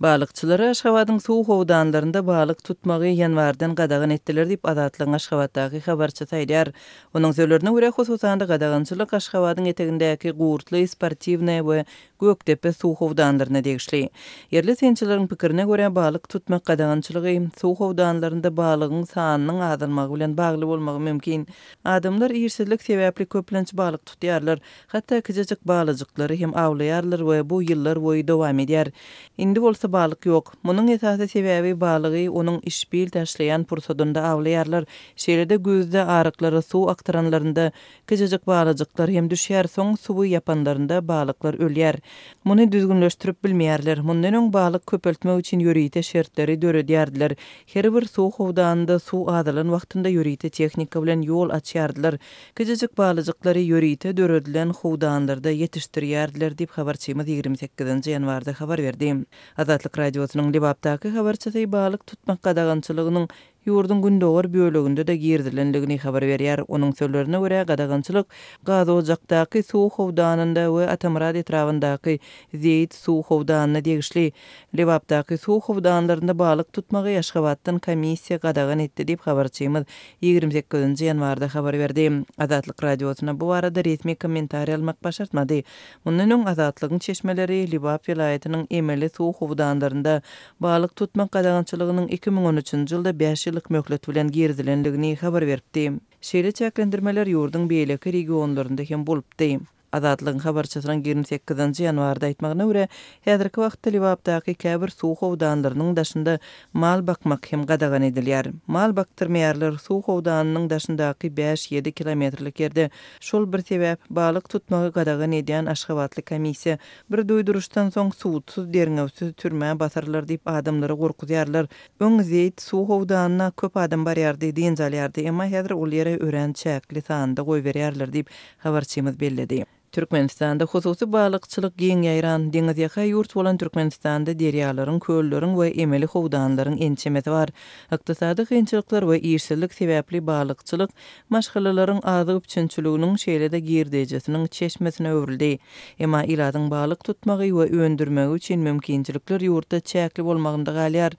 Balykçylary Aşgabadyň suw howdanlarynda balyk tutmagy ýanwardan gadagan etdiler diýip, Azatlygyň Aşgabatdaky habarçysy aýdýar. Onuň sözlerine görä, hususan-da, gadagançylyk Aşgabadyň etegindäki Gurtly, Sportiwnaýa we Gökdepe suw howdanlaryna degişli. Ýerli synçylaryň pikirine görä, balyk tutmak gadagançylygy suw howdanlarynda balygyň sanynyň azalmagy bilen bagly bolmagy mümkin. Adamlar işsizlik sebäpli köplenç balyk tutýarlar. Hatda kiçijik balyjyklary hem awlaýarlar we bu ýyllar boýy dowam edýär. Indi bolsa balyk ýok. Munuň esasy sebäbi balygy onuň işbil taşlaýan pursadynda awlaýarlar. Şeýle-de güýzde aryklara suw akdyranlarynda kiçijik balyjyklar hem düşýär, soň suwy ýapanlarynda balyklar ölýär. Muny düzgünleşdirip bilmeýärler. Mundan öň balyk köpeltmek üçin ýörite şertleri döredýärdiler. Her bir suw howdanynda suw azalan wagtynda ýörite tehnika bilen ýol açýardylar. Kiçijik balyjyklary ýörite döredilen howdanlarda ýetişdirýärdiler diýip, habarçymyz ýigrimi sekizinji ýanwarda habar berdi. Azatlyk Radiosynyň Lebapdaky habarçysy balyk tutmak gadagançylygynyň ýurduň gündogar böleginde-de girizilendigini habar berýär. Onuň sözlerine görä, gadagançylyk Gazojakdaky suw howdanynda we Atamyrat etrabyndaky Zeýit suw howdanyna degişli. Lebapdaky suw howdanlarynda balyk tutmagy Aşgabatdan komissiýa gadagan etdi diýip, habarçymyz ýigrimi sekizinji ýanwarda habar berdi. Azatlyk Radiosyna bu barada resmi kommentariý almak başartmady. Mundan öň Azatlygyň çeşmeleri Lebap welaýatynyň emeli suw howdanlarynda balyk tutmak gadagançylygynyň iki müň on üçünji ýylda bäş ýyllyk möhlet bilen girizilendigini habar beripdi. Şeýle çäklendirmeler ýurduň beýleki regionlarynda hem bolupdy. Azatlygyň habarçysynyň ýigrimi sekizinji ýanwarda aýtmagyna görä, häzirki wagtda Lebapdaky käbir suw howdanlarynyň daşynda mal bakmak hem gadagan edilýär. Mal bakdyrmaýarlar, suw howdanynyň daşyndaky bäş-ýedi kilometrlik ýerde şol bir sebäp, balyk tutmagy gadagan edýän aşgabatly komissiýa bir duýduryşdan soň sudsuz, derňewsiz türmä basarlar diýip adamlary gorkuzýarlar. Öň Zeýt suw howdanyna köp adam barýardy, dynç alýardy, emma häzir ol ýere örän çäkli sanda goýberýärler diýip, habarçymyz belledi. Türkmenistanda hususy balykçylyk giň ýaýran. Deňizýaka ýurt bolan Türkmenistanda derýalaryň, kölleriň we emeli howdanlaryň ençemesi bar. Ykdysady kynçylyklar we işsizlik sebäpli balykçylyk maşgalalaryň azyk üpjünçiliginiň, şeýle-de girdejisiniň çeşmesine öwrüldi. Emma ilatyň balyk tutmagy we öndürmegi üçin mümkinçilikler ýurtda çäkli bolmagynda galýar.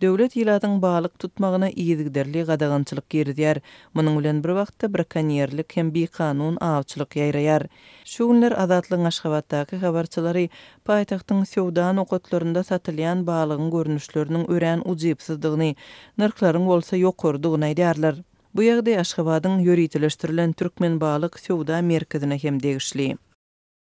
Döwlet ilatyň balyk tutmagyna yzygiderli gadagançylyk girizýär, Munuň bilen bir wagtda brakonýerlik hem bikanun awçylyk ýaýraýar. Şu günler Azatlygyň Aşgabatdaky habarçylary paýtagtyň söwda nokatlarynda satylýan balygyň görnüşleriniň örän ujypsyzdygyny, nyrhlaryň bolsa ýokarydygyny aýdýarlar. Bu ýagdaý Aşgabadyň ýöriteleşdirilen Türkmenbalyk söwda merkezine hem degişli.